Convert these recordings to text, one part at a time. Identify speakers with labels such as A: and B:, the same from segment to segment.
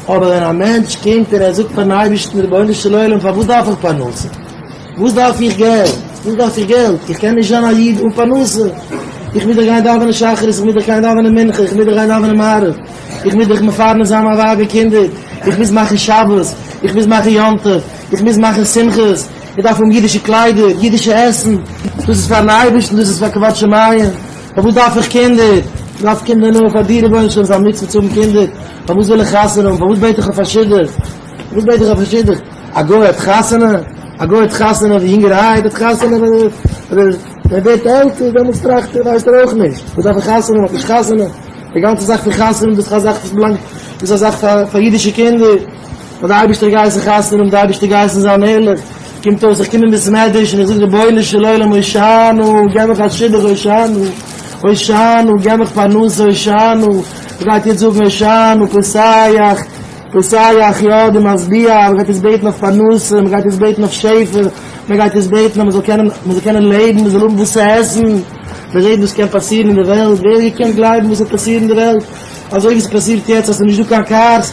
A: אבער ווען א מענטש קומט און ער זאגט פארן אייבערשטן רבונו של עולם פארוואס דארף איך פרנסה? וואס דארף איך געלט? וואס דארף איך געלט? איך קען נישט זיין א איד אן פרנסה, איך מוז דאך גיין דאווענען שחרית, איך מוז דאך גיין דאווענען מנחה, איך מוז דאך גיין דאווענען מעריב, איך מוז דאך מפרנס זיין מיין ווייב און קינדער, איך מוז מאכן שבת, איך מוז מאכן יום טוב, איך מוז מאכן שמחות, איך דארף האבן אידישע קליידער, אידישע עסן, דאס איז פארן אייבערשטן, דאס איז פאר כבוד שמים, פארוואס דארף איך קינדער? כ'דארף קינדער נאר פאר דיר רבונו של עולם, ס'איז א מצוה צו האבן קינדער, פארוואס וויל איך חתונה האבן? פארוואס בעט איך אויף א שידוך? פארוואס בעט איך אויף א שידוך? א גוי האט חתונה? א גוי האט חתונה ווען יונגערהייט? האט חתונה ווען ער ווערט עלטער? דעמאלטס טראכט ער, ווייסט ער אויך נישט. פארוואס דארף איך חתונה האבן? האט נישט חתונה. די גאנצע זאך פון חתונה, דאס איז א זאך וואס באלאנגט, דאס איז א זאך פאר אידישע קינדער. האט די אייבערשטער געהייסן חתונה האבן די אייבערשטער געהייסן זיין ערליך, קומט אויס איך קום אין בית מדרש און איך זאג רבונו של עולם הושענא געב מיך א שידוך הושענא הושענא געב מיך פרנסה הושענא מען גייט יעצט זאגן הושענא פסח פסח יא די משביע מען גייט יעצט בעטן אויף פרנסה מען גייט יעצט בעטן אויף שפע מען גייט יעצט בעטן אז מען זאל קענען מען זאל קענען לעבן מען זאל האבן וואס צו עסן מען רעדט וואס קען פאסירן אין די וועלט ווער האט געקענט גלייבן וואס וועט פאסירן אין די וועלט אזוי ווי ס'פאסירט יעצט אז ס'איז נישטא קיין קארס.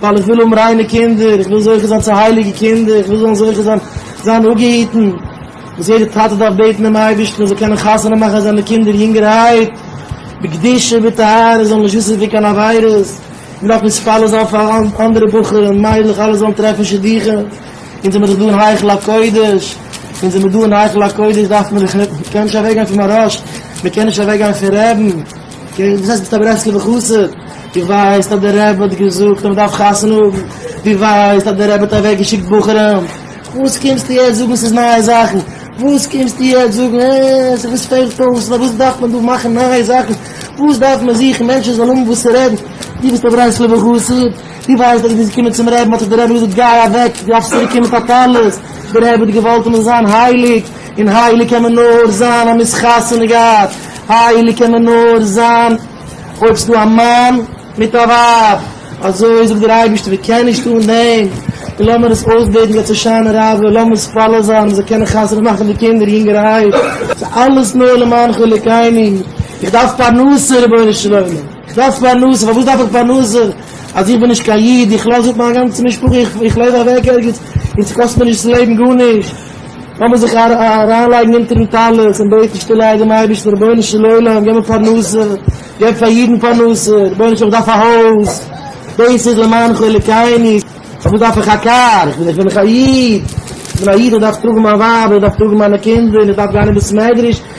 A: ווייל איך וויל האבן ריינע קינדער, איך וויל זוכה זיין צו הייליגע קינדער, איך וויל זאלן זוכה זיין זיין אפגעהיטן, וואס יעדער טאטע דארף בעטן דעם אייבערשטן ער זאל קענען חתונה מאכן זיינע קינדער יונגערהייט בקדושה בטהרה, זיי זאלן נישט וויסן פון קיין עבירות, איך דארף מתפלל זיין פאר אנדערע בחורים און מיידלעך אלע זאלן טרעפן שידוכים, אונז זעמיר דאך דא אין היכל הקודש, אונז זעמיר דא אין היכל הקודש דארף מען דאך, מען קען נישט אוועקגיין פון מהרש ל, מען קען נישט אוועקגיין פון רעבן. אקעי, דאס הייסט ביסט א ברסלב'ע חסיד? דו ווייסט אז דער רבי האט געזאגט אז מען דארף חתונה האבן? דו ווייסט אז דער רבי האט אוועק געשיקט בחורים? וואס קומסטו יעצט זאגן ס'איז נייע זאכן? וואס קומסטו יעצט זאגן אה, ס'וואס פעלט אויס? פארוואס דארף מען דא מאכן נייע זאכן? וואס דארף מען זוכן מענטשן זאלן האבן וואס צו רעדן? דו ביסט א ברסלב'ע חסיד? דו ווייסט אז ווען דו ביסט געקומען צום רבי'ן האט דיר דער רבי געזאגט גיי אוועק, דו דארפסט צוריק קומען מיט א טלית, דער רבי האט געוואלט אז מען זאל זיין הייליג, און הייליג קען מען נאר זיין אז מ'איז חתונה געהאט, הייליג קען מען נאר זיין אויב ס'דא א מאן מיט א ווייב, אזוי זאגט דער אייבערשטער, ווער קען נישט אן דעם, און לאמיר עס אויסבעטן געבט הושענא רבה, לאמיר מתפלל זיין מ'זאל קענען חתונה מאכן די קינדער יונגערהייט, ס'איז אלעס נאר למען חלקינו, איך דארף פרנסה רבונו של עולם, איך דארף פרנסה, פארוואס דארף איך פרנסה, אז איך בין נישט קיין איד, איך לאז אפ מיין גאנצע משפחה, איך לויף אוועק ערגעץ, און ס'קאסט מיר נישט ס'לעבן גארנישט. לאמיר זיך אריינלייגן אונטערן טלית און בעטן שטיל איידער דעם אייבערשטן, רבונו של עולם געב מיר פרנסה, געב פאר אידן פרנסה, רבונו של עולם איך דארף א הויז, דאס איז למען חלקינו, פארוואס דארף איך א קאר, איך בין דאך א איד, איך בין א איד איך דארף טראגן מיין ווייב, איך דארף טראגן מיינע קינדער, איך דארף גיין אין בית מדרש.